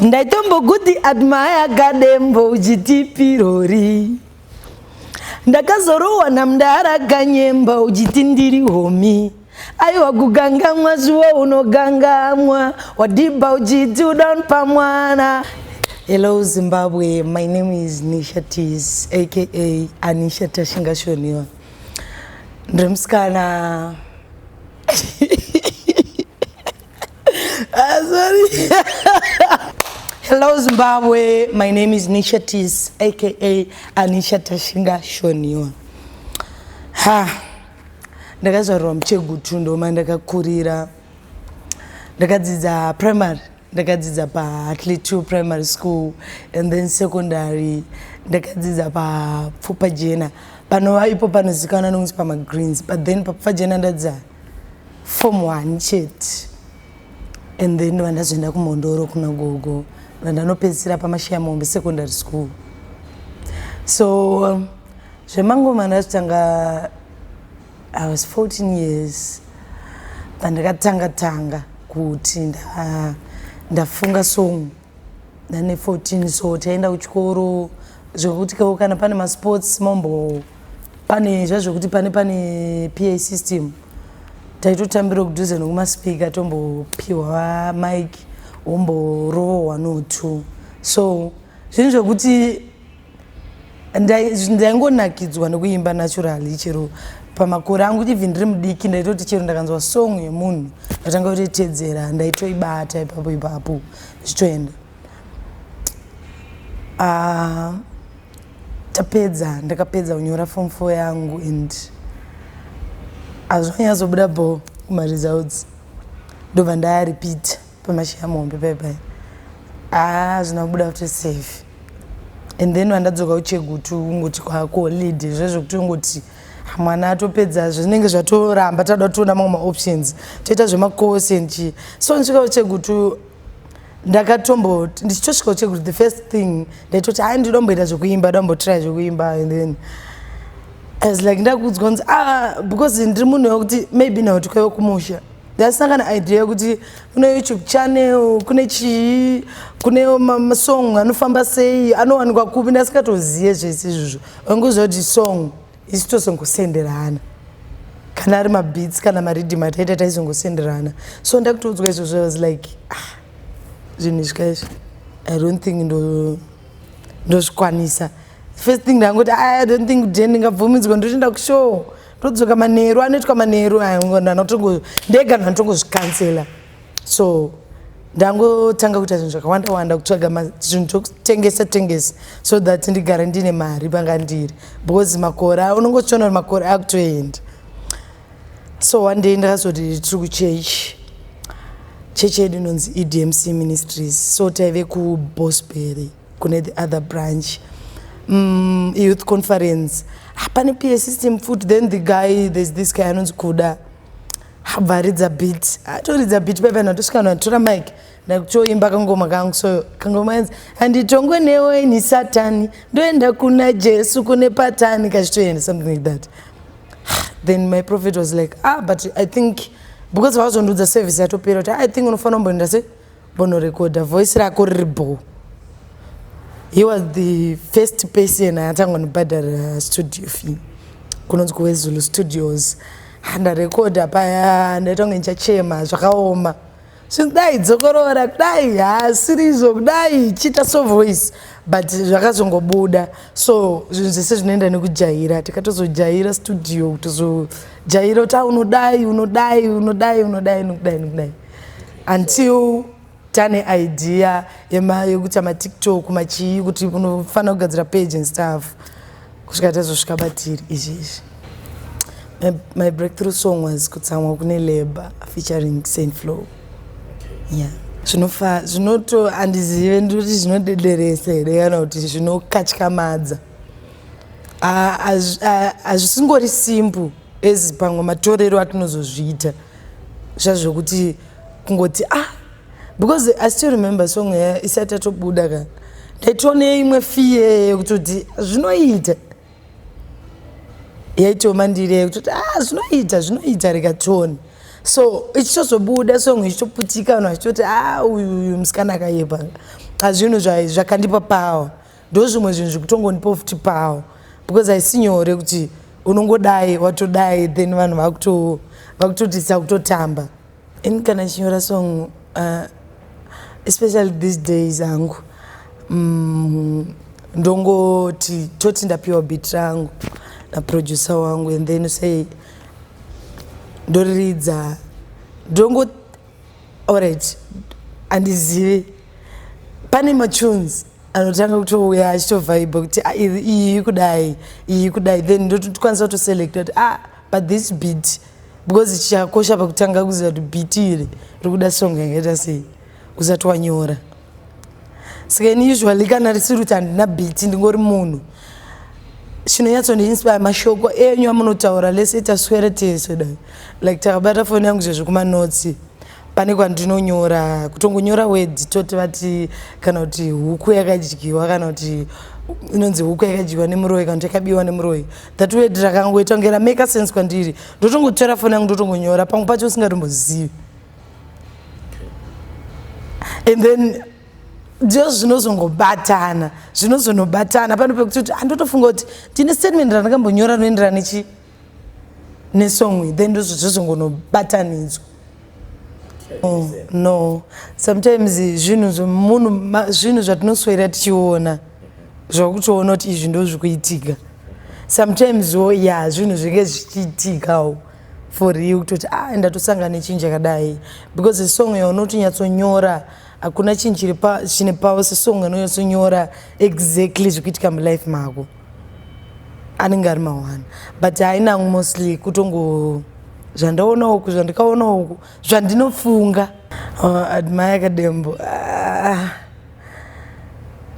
ndaitombokuti admaya kadembo uchiti pirori ndakazorohwa namdara kanyemba uchiti ndiri homi aiwa kugangamwa zviwo unogangamwa wadhibha uchiti udown pamwana hello zimbabwe my name is nisha tis aka anisha tashingashoniwa ndiri musikana Ah, sorry. Hello Zimbabwe, my name is Nisha Tis, aka Anisha Tashinga Shonion. Ha, ndakazvarwa muchegutu ndoma ndakakurira. Ndakadzidza primary, ndakadzidza pa Hartley 2 primary school and then secondary ndakadzidza pa Pfupajena. Panova ipo panozikanwa nokunzi pama Greens, but then pa Pfupajena ndadzidza form one chete and then ndova ndazoenda kumhondoro kuna gogo vandanopedzisira pamashiya mombe secondary school so um, zvemangoma ndazvitanga i was 14 years pandakatanga tanga kuti ndafunga song ndane 14 so taenda kuchikoro zvekuti kao kana pane masports mombo pane zvazvekuti pane pane pa system taitotambira kudhuze nekumaspika tombopiwa mike womborovowa no two so zvinhu zvekuti ndaingonakidzwa nekuimba naturally chero pamakore angu even ndiri mudiki ndaitoti chero ndakanzwa song yemunhu ndatanga kutoitedzera ndaitoibata ipapo ipapo zvichitoenda ah, tapedza ndakapedza kunyora form four yangu and azvanyatsobuda bo kumaresults ndobva ndayaripita pamashaya muhombe pai pai haa zvina kubuda kuti safe and then vandadzoka kucheguti ungoti kwakolid zvezvo kuti ungoti mwana atopedza zvinenge zvatoramba tauda toona mamwe maoptions toita zvemacourse and chii so ndisvika kucheguti ndakatombo ndichitosvika kucheguti the first thing ndaitoti hai ndidomboita zvekuimba ndombotrya zvekuimba and then as like ndakuudzwa kunzi ah because ndiri munhu wekuti maybe now tikaiwe kumusha ndasina kana idea yekuti kune youtube channel kune chii kune masong anofamba sei anowanikwa kupi ndasingatozive zvese izvozvo wanguziva kuti song isi tozongosenderana kana ari mabeats kana mariddim ataita taizongosenderana so ndakutoudzwa izvozvo was like ah, zvinhu zvikaizvo i don't think ndozvikwanisa ndo first thing ndangoti ah, i don't think kudhe ndingabvumidzwa ndoti ndakushow todzoka manheru anoitwa manheru ndanotongo ndega ndandotongozvikansela so ndangotanga kuita zvinhu zvakawanda wanda kutsvaga zvinhu zvokutengesa tengesa so that ndigare ndine mari panga ndiri because makore unongochiona kuti makore akutoenda so one day ndakazoti tiri kuchechi chechi yedu inonzi edmc ministries so taive kubosbury kune the other branch mm, youth conference hapane pa system foot then the guy there's this guy anonzi kuda habva aridza bit atoridza bit paipa natosvika natora mike ndakutoimba kangoma kangu so kangoma yanzi handitongwe newe ini satani ndoenda kuna jesu kune patani kachitoenda something like that then my prophet was like ah but i think because vaazondiudza service yatopera kuti ah, i think unofanira kumboenda se Bonorekodha voice rako riri bho. He was the first person atanga nobhadhara studio fee kunonzi kuwezulu studios handarekodha paya ndaitanga ndichachema zvakaoma zvinzi dai dzokorora kudai hasirizvo kudai chiita so voice but zvakazongobuda so zvinhu zvese zvinoenda nekujaira tikatozojaira studio kutozojaira kuti a ah, unodai unodai unodai unodai nokudai nokudai until tane idea yema yekuita matiktok machii kuti unofanira kugadzira page and stuff kusvika tazosvika batiri izvi izvi my, my breakthrough song was kutsamwa kune labor featuring saint flow yeah zvinofa zvinoto handizive ndikuti zvinodederesa here kana kuti zvinokatyamadza hazvisingori simple as pamwe matorero atinozozviita zvazvo zvekuti kungoti ah because i still remember song ya isati yatobuda ka ndaitone imwe fiye yekutoti zvinoita yaitoma ndiri yekutoti ah zvinoita zvinoita rikatone so ichitozobuda song ichitoputika vanhu vachitoti ah uyu uyu musikana akayepa hazvinhu zvakandipa power ndozvimwe zvinhu zvikutongondipo futi pawo because haisi nyore kuti unongodai watodai then vanhu vakutotisa kutotamba ini kana chinyora song uh, especially these days hangu mm, ndongoti toti ndapiwa bit rangu naproducer wangu and then say ndoriridza ndongo Alright, andizivi pane matunes anotanga kutouya achitovaiba kuti ah, iyi kudai iyi kudai then ndotokwanisa kutoselecta kuti ah but this beat because chichakosha pakutanga kuziva kuti beat iri rikuda song yakaita sei usati wanyora saka ini usually kana risiri kuti handina beat ndingori munhu chinonyatsondiinspire mashoko enyu amunotaura lese taswere tese dai like takabata foni yangu zvezvekumanotsi pane kwandinonyora kutongonyora wedhi toti vati kana kuti huku yakadyiwa kana kuti inonzi huku yakadyiwa nemuroyi kana kuti yakabiwa nemuroyi that wedhi rakangoita kunge rameka sense kwandiri ndotongotora foni yangu ndotongonyora pamwe pacho usingatombozivi and then ndiyo zvinozongobatana zvinozonobatana pano pekuti kuti andotofunga kuti ndine statement randakambonyora rinoenderana nechi nesong then ndozvo zvozongonobatanidzwa oh, no sometimes zvinhu zvemunhu zvinhu zvatinoswera tichiona zvakutoona kuti izvi ndozvikuitika sometimes wo ya zvinhu zvinge zvichiitikawo for real kutoti ah ndatosanga nechinji yakadai because song yaunoti nyatsonyora hakuna chinhu chiri chine pavo sesong inonyatsonyora exactly zvikuitika mulife mako anenge ari mawana but hainangu mostly kutongo zvandaona uku zvandikaona uku zvandinofunga oh, admire kadembo ah.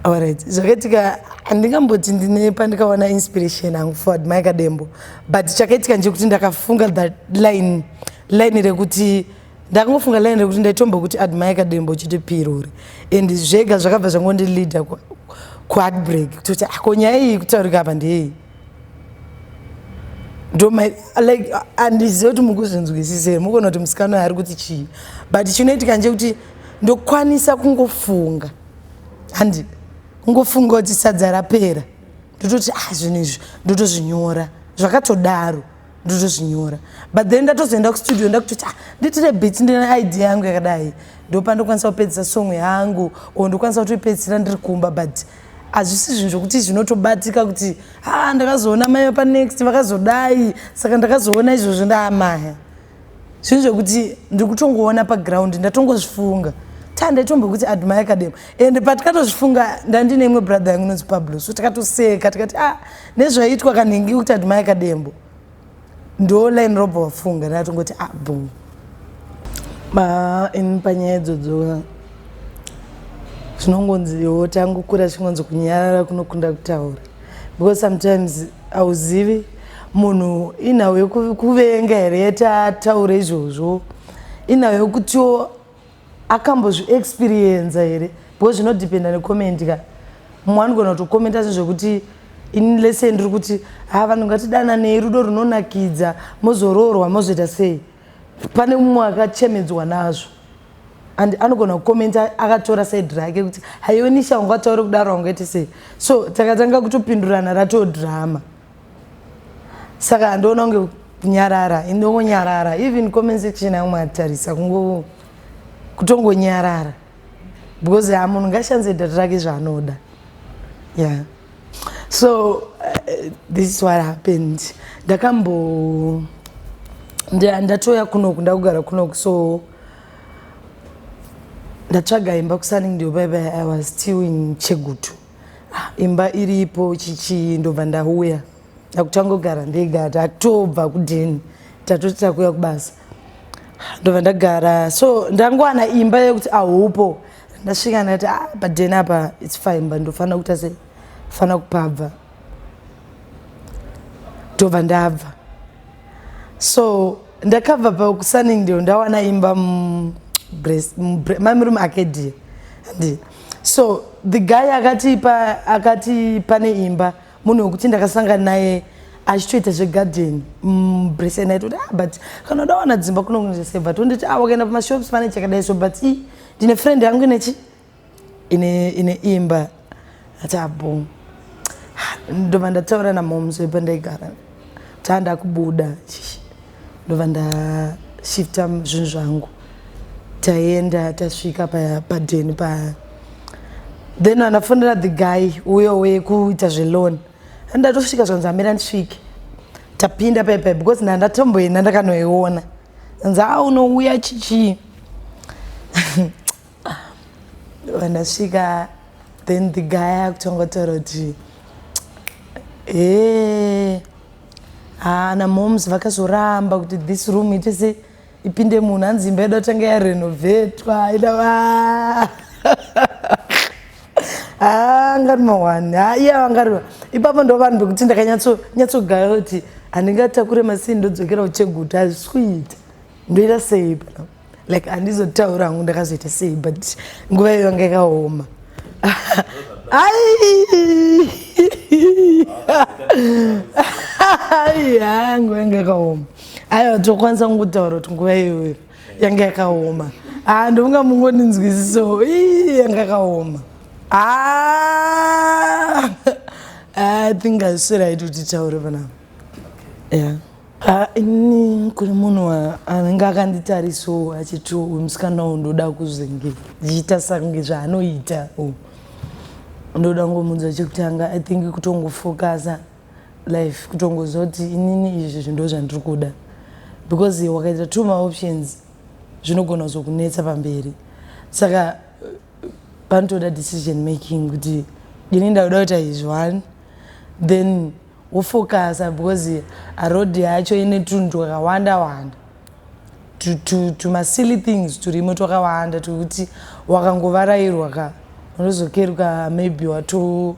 Alright, zvakaitika handingamboti ndine pandikawana inspiration hangu for admire kadembo but chakaitika ndechekuti ndakafunga that line line rekuti ndakangofunga line rekuti ndaitombo kuti admire kadembo chete pirori and zvega zvakabva zvangondileader kuheartbreak kutoti ako ah, nyaya iyi kutaurika apa ndeyei ndomlike andizive kuti mukuzvinzwisise mukona kuti musikana uyo ari kuti chii but chinoitika nje kuti ndokwanisa kungofunga handi kungofunga kuti sadza rapera ndototi ah zvinhu izvi ndotozvinyora zvakatodaro ndotozvinyora but then ndatozoenda kustudio ndakutoti ah nditire bit ndine idea yangu yakadai ndopandokwanisa kupedzisa song yangu o ndokwanisa kutoipedzisira ndiri kumba but hazvisi zvinhu zvokuti zvinotobatika kuti ha ah, ndakazoona mai panext vakazodai saka ndakazoona izvozvo ndaamaya zvinhu zvekuti ndiri kutongoona paground ndatongozvifunga ta ndaitombokuti admire kadema and patikatozvifunga ndandine imwe brother yangu inonzi pablo so tikatoseka tikati a ah, nezvaiitwa kanhingi kuti admire kadembo ndo line robva wafunga ndaatongoti a ah, bom in panyaya idzodzo zvinongonzi wo tangokura chingonzi kunyarara kunokunda kutaura because sometimes hauzivi munhu inhau yekuvenga here yatataura izvozvo inhau yekutiwo akambozviexperienza here because zvinodependa necomment ka mumwe anogona kutokomenta asi zvekuti ini lese ndiri kuti ha vanhu ngatidananei rudo runonakidza mozoroorwa mozoita sei pane mumwe akachemedzwa nazvo and anogona kukomenta akatora side rake kuti haiwe nisha wanga utaure kudaro wanga ite sei so takatanga kutopindurana ratoo drama saka handiona kunge kunyarara indongonyarara even comment section yangu matarisa kungo kutongonyarara because amunhu ngashandise data rake zvaanoda ya yeah. so uh, this is what happened ndakambo ndatoya kunoku ndakugara kunoku so ndatsvaga imba kusaning ndiyo baiba i was still in chegutu ah, imba iripo chichii ndobva ndauya ndakutangogara ndega tatobva kudheni tatoti takuya kubasa ndobva ndagara so ndangowana imba yekuti ahupo ndasvika ndati ah, paden apa its fine but ndofanira kuita sei fanira kupabva ndobva ndabva so ndakabva pakusaning ndio ndawana imba mamirume ake die andi so the guy akati pa, akati pane imba munhu wekuti ndakasangana naye achitoita zvegarden mbresen mm, aitoti ah, but kana udawana dzimba kunokunosebat onditi ah, wakaenda pamashops pane chakadai so but i ndine friend yangu inechi ine ine imba ati abo ndobva ndataura namoms wepandaigara taa ndakubuda ndobva ndashifta zvinhu zvangu taienda tasvika padeni pa, pa then vanafonera the guy uyo wekuita zveloan andatosvika zvanzi amira ndisvike tapinda pepe because ndandatomboenda ndakanoiona nzaa unouya chichii vandasvika then the guy akutongotaura kuti ee haana moms vakazoramba kuti this room itese ipinde munhu hanzi imba yedu atanga yarenovetwa ina Ah, ngari mawani ah, iye vangari ipapo ndo vanhu vekuti ndakanyatsogaya kuti handingatakure masii ndodzokera ucheguta hazvisi kuita ndoita sei pana like handizotaura hangu ndakazoita sei but nguva iyo yanga yakaoma aiyangu yanga yakaoma aiwa tokwanisa kungutaura kuti nguva iyoyo yanga yakaoma haa ah, ndovanga mungoninzwisiso yanga yakaoma ah! ah, i think asiraiti kuti taure panapa ya ini kune munhu anenge akanditariso achiti uyu musikana uyu ndoda kuzenge ndichiita sange zvaanoita ndoda ngomunzwa chekutanga i think kutongofocusa life kutongoziva kuti inini izvi zvinhu ndozvandiri kuda because wakaita two maoptions zvinogona kuzokunetsa pamberi saka panotoda decision making kuti ini ndakuda kuita izvi one then wofocusa because aroad yacho ine tunhu twakawanda wanda tumasilly things turimo twakawanda twekuti wakangovarairwa ka unozokeruka maybe wato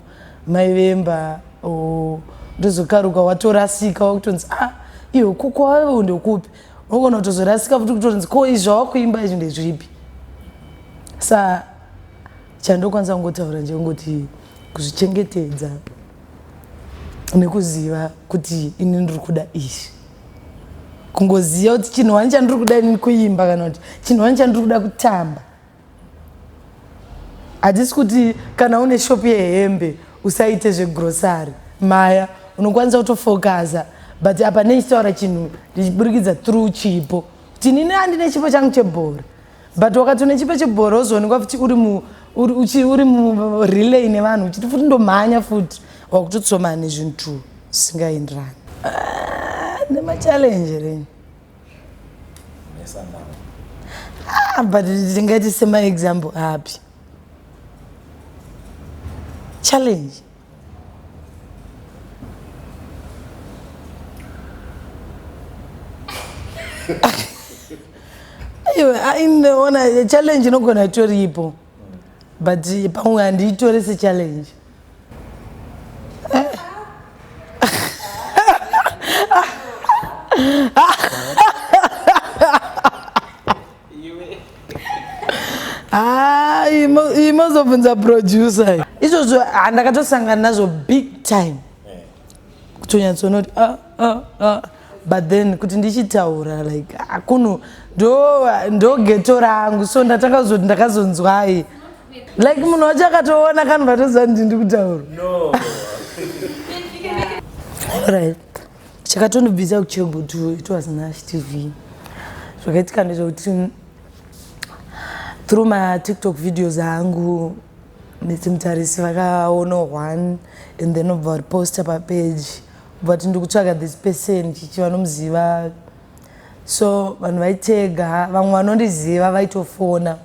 Mai vemba oh, ndozokaruka watorasika wakutonzi ah iyo kukwave ndokupi unogona kutozorasika futi kutonzi ko izvi zvawakuimba izvi ndezvipi sa chandokwanisa kungotaura ndekungoti kuzvichengetedza nekuziva kuti ini ndiri kuda izvi kungoziva kuti chinhu wani chandiri kuda ini kuimba kana kuti chinhu wani chandiri kuda kutamba Hatisi kuti kana une shop yehembe usaite zvegrocery maya unokwanisa kutofokaza but apa nechitaura chinhu ndichiburikidza through chipo kuti nini andine chipo changu chebhora but wakati une chipo chebhora wozoonekwa futi uri murelay nevanhu uchiti futi ndomhanya futi wakutotsomana nezvinhu zvisingaenderani ah, nemachallenje reni Ah, but ndingati semaexample api challenge iwe ainoona ah, challenge inogona itoripo but pamwe handiitore sechallenge imozobvunza producer izvozvo handakatosangana nazvo big time eh. kutonyatsonoti ah, ah, ah. but then kuti ndichitaura like akuno ndogeto rangu so ndatanga kuzoti ndakazonzwai like munhu wacho akatoona kanhu vatoziva ndi ndi kutaura right chakatondibvisa kuchebo to it was nash tv zvakaitika ndezvekuti through matiktok videos angu netsimutarisi vakaona one and then obva variposta papage but ndikutsvaga this person chichi vanomuziva so vanhu vaitega vamwe vanondiziva vaitofona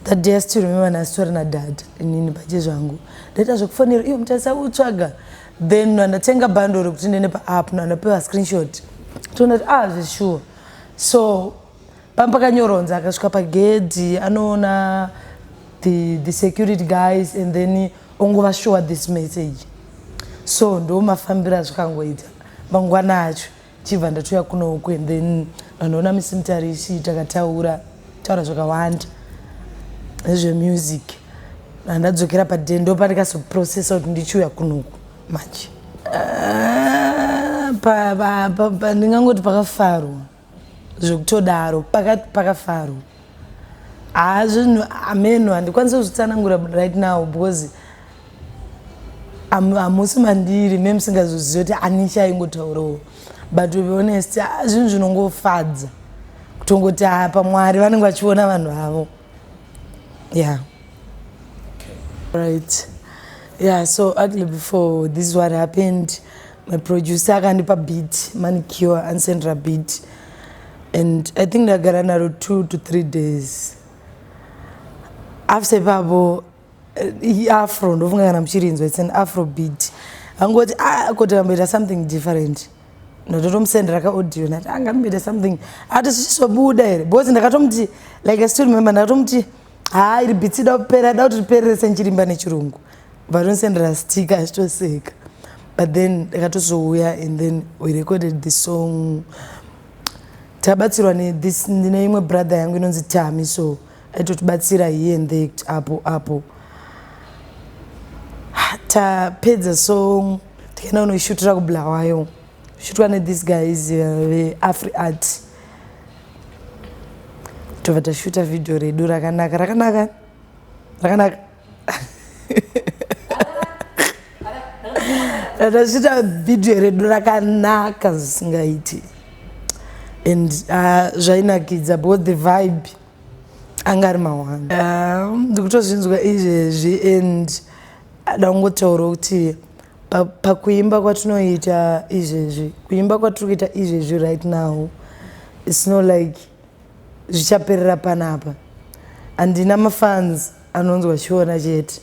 that day asi tirumeva nhasi tori nadad inini pache zvangu ndaita zvekufonera iyo mutarisa kutsvaga then andatenga bando rekuti ndene paapp no andapewa screenshot toona kuti ah zvesure so pamba pakanyoronza akasvika pagedhi anoona the, the security guys and then ongova sure this message so ndomafambira azvakangoita mangwana acho chibva ndatoya kunoku and then vanoona misimutarisi takataura taura zvakawanda nezvemusic andadzokera padendo pandikasoprocessa kuti ndichiuya kunoku manje ah, ndingangoti pakafarwa zvekutodaro pakati pakafaro haa zvinhu ameno handikwanise kuzvitsanangura right now because hamusi mandiri me musingazoziva kuti ani chaingotaurawo but to be honest ah, zvinhu zvinongofadza kutongoti haa ah, pamwari vanenge vachiona vanhu avo yeah right yeah so actually before this what happened my producer akandipa beat manicure ansendra beat and i think ndagara naro two to three days after ipapo eh, iafro ndofunga kana muchirinzwa its an afro beat angoti ah, koti kamboita something different ndototomusendera kaaudio nati angamboita ah, something ati zvichizobuda here because ndakatomuti like i still remember ndakatomuti haa iri bitsida kupera da kuti ripererese nchirimba nechirungu Vanonsendera stick achitoseka but then ndakatozouya and then we recorded the song tabatsirwa nethis ndine imwe brother yangu inonzi tami so aitotibatsira here and there kuti apo apo tapedza song tikaenda kunoishutira kubulawayo shutwa nethis guys uh, veafri uh, art tobva tashuta vhidhiyo redu rakanaka rakanaka rakanaka ndazvita video redu rakanaka zvisingaiti and ah, zvainakidza both the vibe anga ari mawanda ah, ndikutozvinzwa izvezvi and ada kungotaura kuti pakuimba kwatinoita izvezvi kuimba kwatiri kuita izvezvi right now its not like Zvichaperera panapa. Handina mafans anonzwa chiona chete.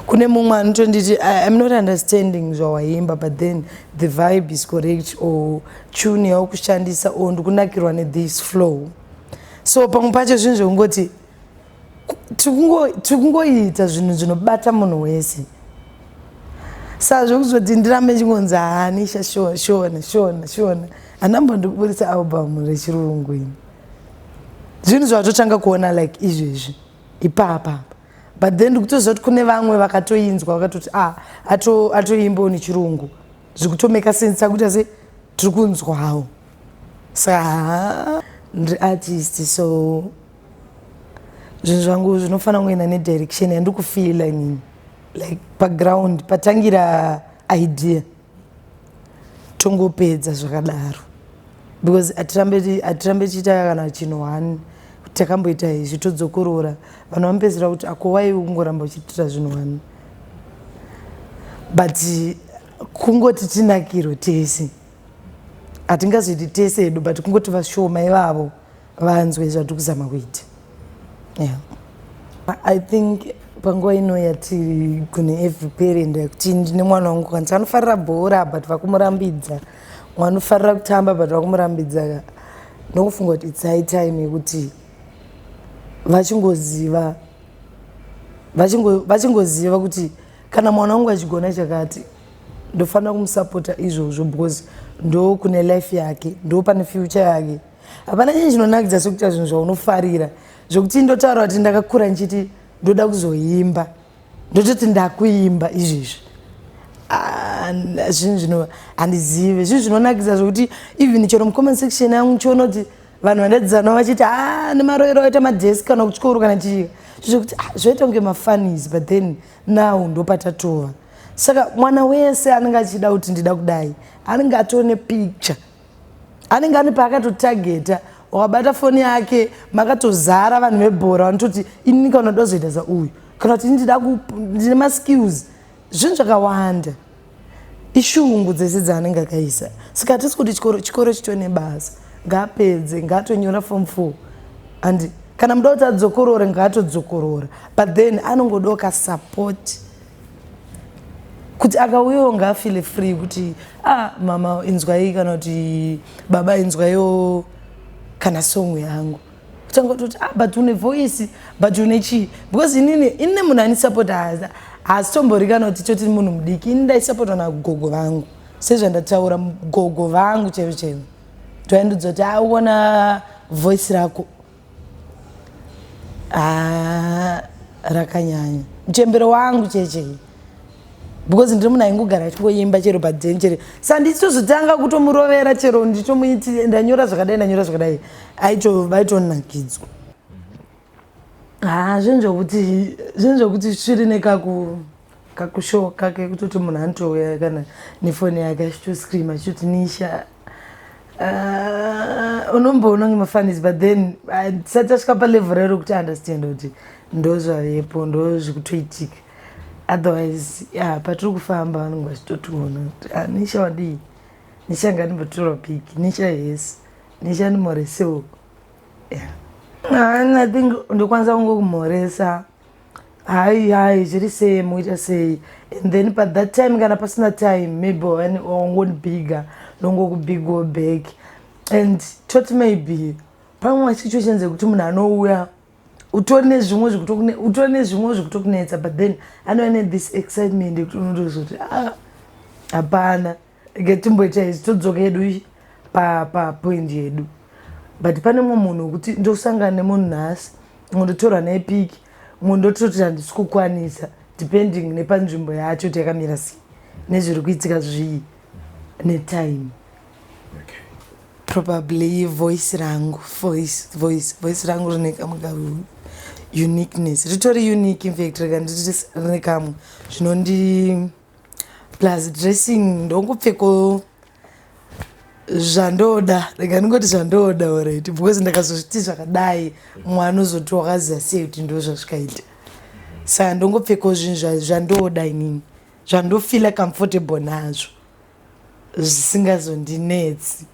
Kune mumwe anotonditi I'm not understanding zvawaimba but then the vibe is correct or tune yaukushandisa or ndikunakirwa ne this flow. So pamwe pacho zvinhu zvekungoti tiri kungoita zvinhu zvinobata munhu wese sa zvekuzoti ndirambe chingonzi haani sha shona shona shona shona hanambo ndikuburitsa album rechirungu ini zvinhu zvavatotanga kuona like izvezvi ipapa but then ndikutoziva kuti kune vamwe vakatoinzwa vakatoti a ah, atoimbawo nechirungu zvikutomeka sense akuita se tiri kunzwawo sa ndiri artist so zvinhu zvangu zvinofanira kungoenda nedirection yandiri kufeela inini like paground patangira idea tongopedza zvakadaro because hatirambe tichiita kana chinhu one takamboita izvi todzokorora vanhu vamupedzera kuti akowai kungoramba uchitira zvinhu one but kungoti tinakiro tese hatingazoiti tese hedu but kungoti vashoma ivavo vanzwe zvandiri kuzama kuita yeah. i think panguva ino yatiri kune every parent yekuti ndine mwana wangu kwanisa anofarira bhora but vakumurambidza mwana ufarira kutamba but vakumurambidza ndokufunga kuti its high time yekuti vachingoziva vachingoziva kuti kana mwana wangu achigona chakati ndofanira kumusapota izvozvo because ndo kune life yake ndo pane future yake hapana chinhu chinonakidza sekuita zvinhu zvaunofarira zvekuti ndotaura kuti ndakakura ndichiti ndoda kuzoimba ndototi ndakuimba izvizvi ah, zvinhu zvino handizive zvinhu zvinonakidza zvekuti even chero mucomment section yangu chiona kuti vanhu vandadzana vachiti a ah, nemaroero aita madesi kana kuchikoro kana chii zvokuti ah, zvoita kunge mafanis but then now ndopatatova saka mwana wese anenge achida kuti ndida kudai anenge atone picture anenge ane paakatotageta wakabata foni yake makatozara vanhu vebhora vanototi inini kana ndoda kuzoita sauyu kana kuti ini ndida ndine maskills zvinhu zvakawanda ishungu dzese dzaanenge akaisa saka hatisi kuti chikoro chikoro chito nebasa ngaapedze ngaatonyora fom four and kana muda kuti adzokorore ngaatodzokorora but then anongodoka support kuti akauyawo ngaafile free kuti ah mama inzwai kana kuti baba inzwaiwo kana song yangu kutanga kutoti ah but une voice but une chii because inini inine munhu anisapota haasitombori kana kuti toti munhu mudiki ini ndaisapotwa nagogo vangu sezvandataura gogo vangu chero chero toaindudza kuti aona ah, voice rako Ah, rakanyanya mchembero wangu cheche because ndiri munhu aingogara achingoimba chero paden chero sanditozotanga kutomurovera chero nditomuiti ndanyora zvakadai ndanyora zvakadai vaitonakidzwa ha ah, zvinhu zvokuti zvinhu zvokuti sviri nekaku kakushow kake kutoti munhu anotouya kana nefoni yake achitoscream achitoti nisha uh, unomboona kunge mafanis but then tisati asvika palevel rero kuti understand kuti ndo zvavepo ndo zvikutoitika otherwise ya patiri kufamba vanenge vachitotiona kuti ah, nisha wadii nisha nganimbotora piki nisha yes nisha ndimhoresewo yeah. i think ndokwanisa kungokumhoresa Hai hai zviri sei muita sei and then pa that time kana pasina time maybe wani wangondibhiga ndongokubhigawo back and tot maybe pamwe masituations ekuti munhu anouya utori nezvimwe zvikutokutori nezvimwe zvikutokunetsa but then anouya ne this excitement yekuti unotozoti ah hapana Rege timboita izi todzoka yedu papoint pa yedu but pane mumwe munhu wekuti ndosangana nemunhu nhasi mumwe ndotorwa naye piki mumwe ndototi handisi kukwanisa depending nepanzvimbo yacho kuti yakamira sei nezviri kuitika zvii netime probably voice rangu voice voice voice rangu rine kamwe ka uniqueness ritori unique infact rega ndiri rine kamwe zvinondi plus dressing ndongopfeko zvandoda rega ndingoti zvandoda orit because ndakazozviti zvakadai mwana ozoti wakaziva sei kuti ndo zvazvikaita saka ndongopfekawo zvinhu zvandoda inini zvandofeela comfortable nazvo zvisingazondinetsi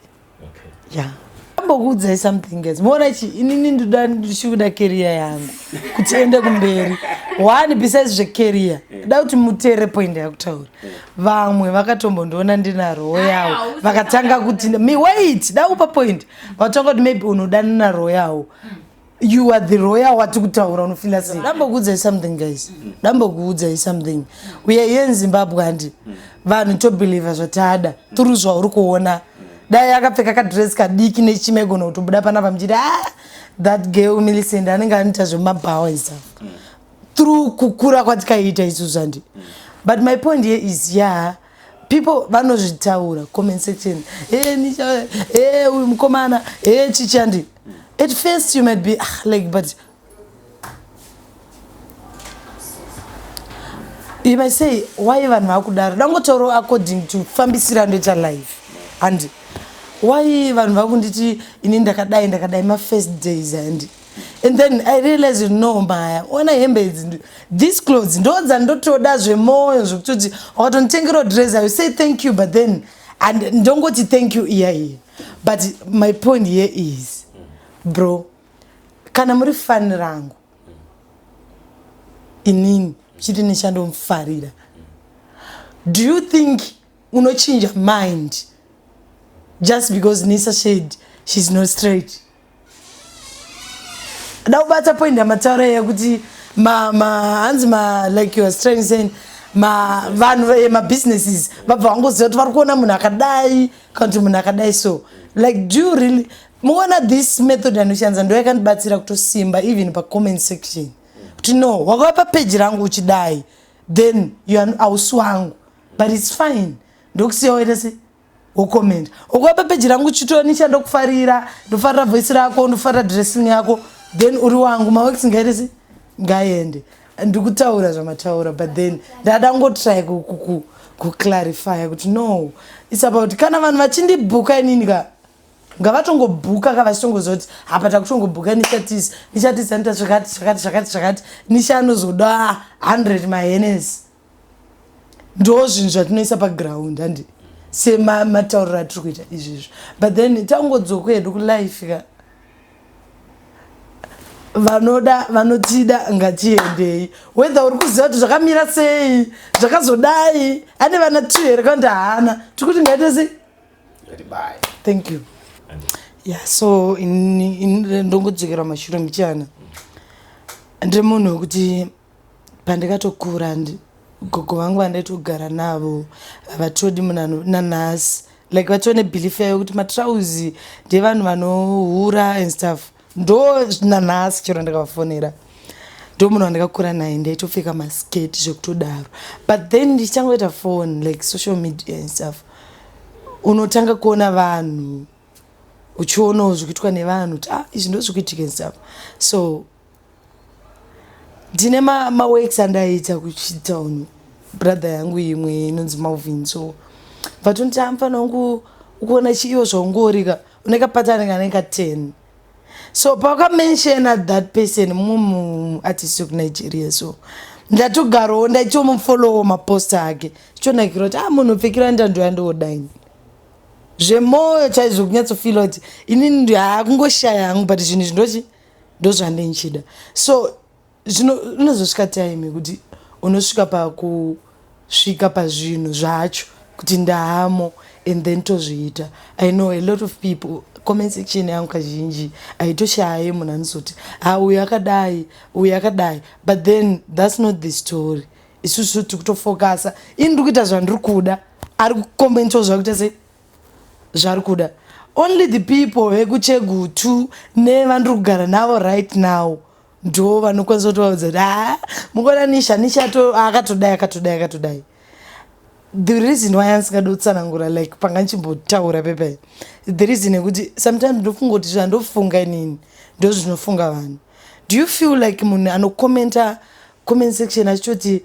okay yeah ambokuudzai something guys muona chi inini ndoda ndichikuda career yangu kuti ende kumberi one besides zvecareer da kuti muteere point yakutaura vamwe vakatombondiona ndinaroo yawo vakatanga kuti me wait da kupa point vakatanga kuti maybe unoda ndinaroo yawo you are the royal wati kutaura unofila sei dambokuudzai something guys dambokuudzai something uye iye nzimbabwe handi vanhu tobelieve zvatada turi zvauri kuona dai akapfeka kadress kadiki nechima igona kutobuda panapa muchiti a ah, that girl millicent anenge anoita zvemabhawa isa through kukura kwatikaita isu zvandi but my point here is ya yeah, people vanozvitaura comment section hey, nicha hey, uyu mukomana hey, chichandi at first you might be ah, like but you might say why vanhu vakudaro dangotauro according to fambisira ndoita life and why vanhu vakunditi ini ndakadai ndakadai mafirst days and and then i realize no maya ona hembe idzi this clothes ndodza ndotoda zvemoyo zvekutoti wakatonditengerawo dress i say thank you but then and ndongoti thank you iya iya but my point here is bro kana muri fani rangu inini chiti nechandomufarira do you think unochinja mind just because nisa shade she's not straight da kubata point yamataura yekuti hanzi ma like you are trying saying vanhu eh, mabusinesses vabva vangoziva kuti vari kuona munhu akadai kana kuti munhu akadai so like do you really muona this method yanoshandisa ndo yakandibatsira kutosimba even pacomment section kuti no wakava papeji rangu uchidai then hausi wangu but its fine ndokusiyawo ita se wokomenda ukuva papeji rangu chitoni chandokufarira ndofarira voice rako ndofarira dressing yako then uri wangu mawex ngairisi ngaende ndikutaura zvamataura but then ndada ngotry kuclarifya kuti no its about kana vanhu vachindibhuka inini ka ngavatongobhuka ka vachitongoziva kuti hapa takutongobhuka nichatisa nichatisa nita zvakati zvakati zvakati zvakati nisha anozoda 100 mahenes ndo zvinhu zvatinoisa paground handi sematauriro atiri kuita izvizvo but then tangodzoka hedu kulife ka vanoda vanotida ngatiendei whether uri kuziva kuti zvakamira sei zvakazodai ane vana two here kana kuti haana tiri kuti ngaite sei thank you ya so ndongodzokera mashure muchana ndiri munhu wekuti pandikatokura and gogo vangu vandaitogara navo havatodi munhu nanhasi like vatone belief yayo kuti matrauzi ndevanhu vanohura and stuff ndo nanhasi chero ndikavafonera ndo munhu wandikakura naye ndaitopfeka masketi zvekutodaro but then ndichangoita phone like social media and stuff unotanga kuona vanhu uchionawo zvikuitwa nevanhu kuti ah izvi ndozvikuitika and stuff so ndine maworks ma andaiita kuchitown brother yangu imwe inonzi malvin so vatonditi amufana wangu ukuona chiiwo zvaungorika unekapatani kanenge ka 10 so pakamenshena that person mum artist wekunigeria so ndatogarowo ndaitomufolowo maposta ake chichonakira kuti a ah, munhu upfekira ndandoya ndoodaini zvemwoyo chaizvo kunyatsofila kuti inini haa kungoshaya hangu but zvinhu izvi ndochi ndozvandinchida so zvinozosvika time kuti unosvika pakusvika pazvinhu zvacho kuti ndaamo and then tozviita i know a lot of people comment section yangu kazhinji haitoshaye munhu anozoti ha ah, uyu akadai uyu akadai but then thats not the story isusu tiri kutofokasa ini ndiri kuita zvandiri kuda ari kukomentwa zvakuita sei zvaari kuda only the people vekuchegutu nevandiri kugara navo right now ndo vanokwanisa kutovaudza kuti haa mukuona nisha nisha akatodai akatodai akatodai the reason why andisingadi kutsanangura like panga ndichimbotaura pepai the reason yekuti sometimes ndofunga kuti zvandofunga inini ndo zvinofunga vanhu do you feel like munhu anocommenta comment section achitoti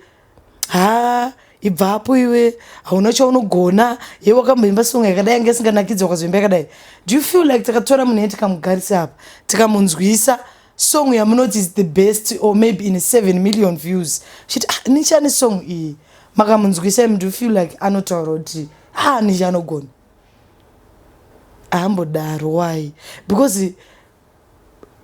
haa ibvapo iwe hauna chaunogona ye wakamboimba songa yakadai yange isinganakidzi wakazoimba yakadai do you feel like takatora munhu ye tikamugarisa apa tikamunzwisa song yamunoti is the best or maybe in seven million views chit ah, nichani song iyi makamunzwisa im do you feel like anotaura kuti haa ah, nichi anogona ahambodaro why because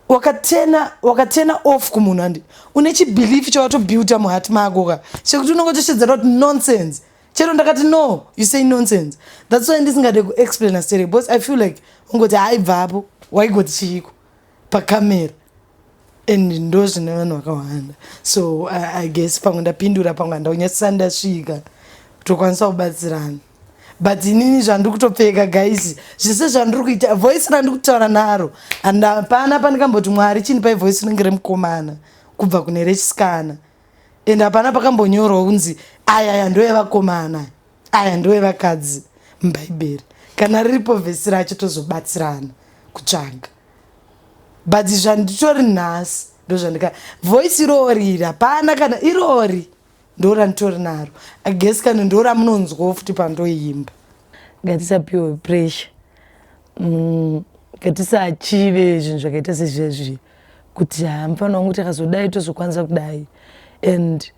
wakatena wakatena off kumunhu and une chibelief chawatobuilda muhat mako ka chekuti unongotosvedzera kuti nonsense chero ndakati no you say nonsense thats why ndisingade kuexplaina stere bcause i feel like ungoti haibvapo waigoti chiiko pacamera and ndo zvine vanhu vakawanda so i guess pamwe ndapindura pamwe handaunyasisa ndasvika tokwanisa kubatsirana but inini zvandiri kutopfeka guys zvese zvandiri kuita voice randiri kutaura naro and hapana pandikamboti mwari chindipai voice rinenge remukomana kubva kune rechisikana and hapana pakambonyorwa kunzi aya aya ndoevakomana aya ndoevakadzi mubhaibheri kana riripo vhesi racho tozobatsirana kutsvaga but zvanditori nhasi ndozvandika voice irori iri hapana kana irori ndoranditori naro i guess kana ndoramunonzwawo futi pandoimba ngatisapiwe pressure mm, ngatisachive zvinhu zvakaita sezvezvi kuti haa mufana wangu takazodai tozokwanisa kudai and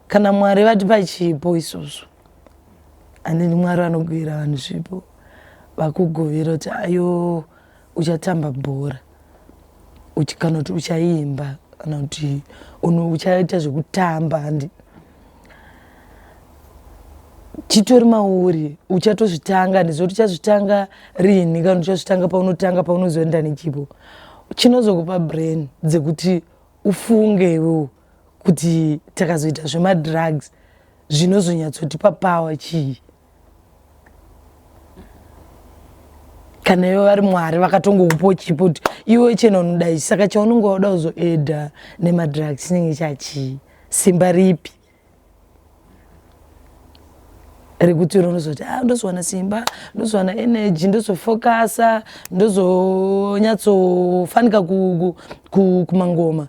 kana mwari vatipa chipo isusu andini mwari vanogwira vanhu zvipo vakugovira kuti ayo Uchatamba bhora uchi, kana kuti uchaimba kana kuti uno- uchaita zvekutamba handi chitori mauri uchatozvitanga ndizoti uchazvitanga rini kana uchazvitanga paunotanga paunozoenda nechipo chinozokupa brain dzekuti ufunge iwewo kuti takazoita zvemadrugs zvinozonyatsotipa power chii kana ivo vari mwari vakatongokupawo chipo kuti iwe chena unoda ichi saka chaunenge wauda kuzoeda nemadrug chinenge chachii simba ripi rekuti iro ndozoti a ah, ndozowana simba ndozowana energy ndozofokasa ndozonyatsofanika kumangoma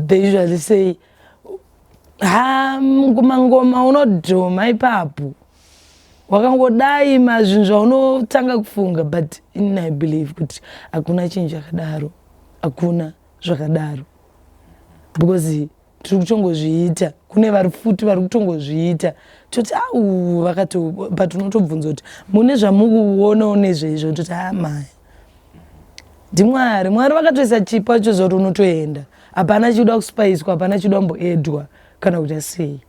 they usually say ha mangoma unodhoma ipapo wakangodai mazvinhu zvaunotanga kufunga but in i believe kuti hakuna chinhu chakadaro hakuna zvakadaro because tiri kutongozviita kune vari futi vari kutongozviita toti au ah, vakato but unotobvunza kuti mune zvamukuonawo nezveizvo toti amaya ah, ndimwari mwari vakatoisa chipo acho zoti unotoenda hapana chikuda kuspaiswa hapana chikuda kumboedwa kana kuita sei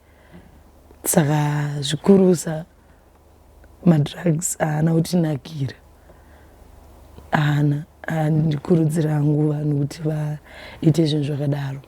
saka zvikurusa madrugs haana kutinakira haana handikurudzira hangu vanhu kuti vaite zvinhu zvakadaro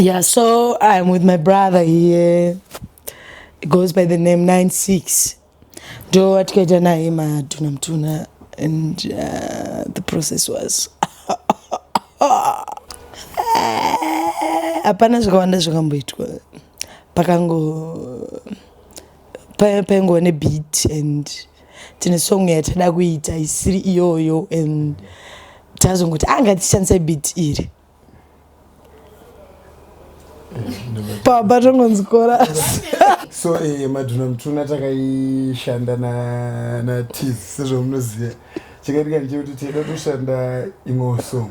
Yeah, so I'm with my brother here. It goes by the name 96. Ndo atikaita naye matuna mtuna and uh, the process was hapana zvakawanda zvakamboitwa pakango paingova nebeat and tine song yatada kuita isiri iyoyo and tazongoti anga ah, tichishandisa beat iri pamba tongonzi korasi so eh, madhuna mutuna takaishanda natiz sezvamunoziva chakaitika ndechekuti taida kutoshanda imwewo song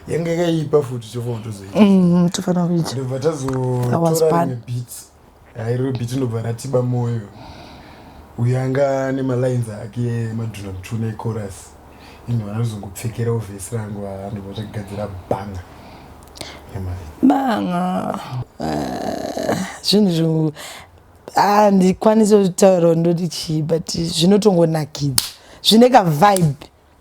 yanga yakaipa futi chofanira kutozoita mm, tofanira kuita ndobva tazotora beats Hairo biti ndobva ratiba moyo. Uyu anga ane malines ake madhuna mutuna echorus. Ini vana rizongopfekerawo vhesi rangu haa ndobva tagadzira banga. Yamari. banga Ah, zvinhu zvo handikwanisi kutaura ndoti chii but zvinotongonakidza zvine kavibe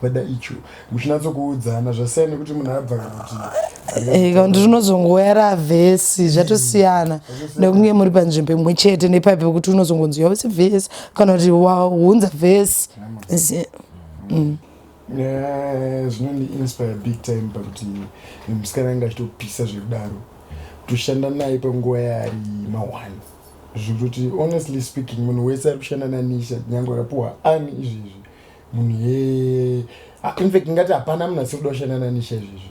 kweda icho muchinatsokuudzana zvasiyana nekuti munhu abva kuti eh, kanti rinozongoyara vhesi zvatosiyana nekunge muri panzvimbo imwe chete nepaipi pekuti unozongonzwa wese vhesi kana kuti waunza vhesi mm. eh, zvinondiinspire big time pakuti musikana anga achitopisa zvekudaro kutoshanda naye panguva yaari mahwani zvekutoti honestly speaking munhu wese ari kushanda nanisha nyange akapuwa ani izvezvi munhu hee Ah, in fact ndingati hapana munhu asiri kuda kushanda nanisha izvizvi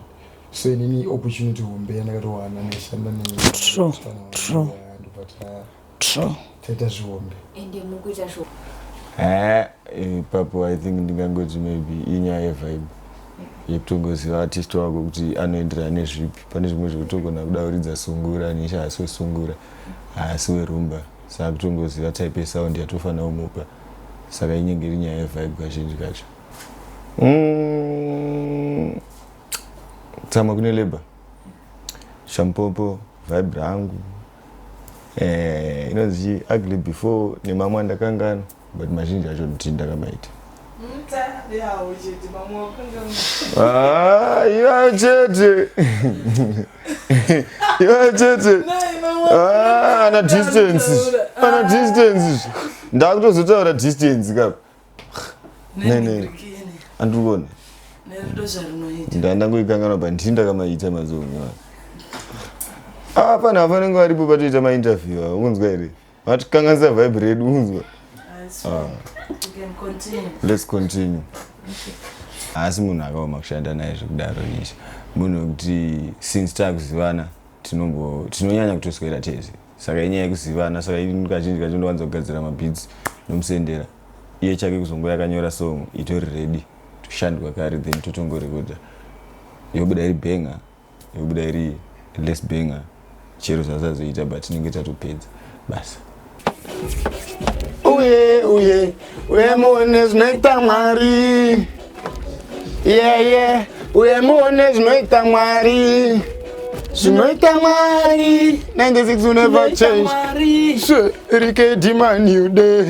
so inini opportunity hombe yandakatowana ndaishanda True, true. ndobataya true taita zvihombe ende mukuita zvo Eh, ipapo i think ndingangoti maybe inyaya yevibe yekutongoziva artist wako kuti anoenderana nezvipi pane zvimwe zvekutogona kuda kuridza sungura nisha haasi wesungura haasi werumba saka kutongoziva type yesound yatofanira kumupa saka inenge iri nyaya yevibe kazhinji kacho mm, tsamwa kune labor shampopo vibe rangu eh, inonzi ugly before nemamwe andakangana but mazhinji acho nditi ndakamaita ah, ivayo chete iwe chete Ah, ana distance ana distance ndakutozotaura distance kapa Ne, ne. andikuona nerudozvarunoita ndandangoikanganwa pa ndini ndakamaita mazuva omwana ah pana vanenge varipo patoita mainterview ava ungonzwa here vatikanganisa vibe redu unzwa ah. let's continue haasi munhu akaoma kushanda naye zvekudaro nisha munhu wekuti since takuzivana tinombo tinonyanya kutoswera tese saka inyaya yekuzivana saka ini kazhinji kacho ndowanza kugadzira mabits nomusendera iye chake kuzongo yakanyora song itori ready toshandwa kare then totongorekoda yobuda iri benga yobuda iri less banger chero zvasazoita but tinenge tatopedza basa uye uye uye muone zvinoita mwari yeye yeah, yeah. uye muone zvinoita mwari zvinoita mwari 96 will never change rike demand you day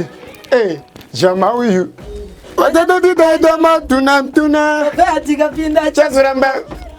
hey, eh, jama uyu watatotitaita matunatuna tikapinda chazoramba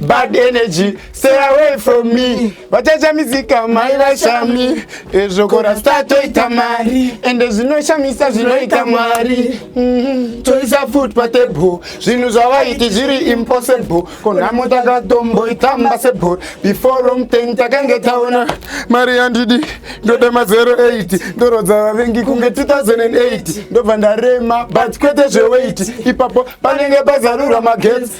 bad energy stay away from me vachachamisika mai vashami ezvokora sta toita mari ende zvinoshamisa zvinoita mwari mhm. toisa food patable zvinhu zvavaiti zviri impossible konhamo takatomboitamba sebor before long ten takange taona mari yandidi ndode mazero 8 ndorodza vavengi kunge 2008 ndobva ndarema but kwete zveweit ipapo panenge pazarurwa magetsi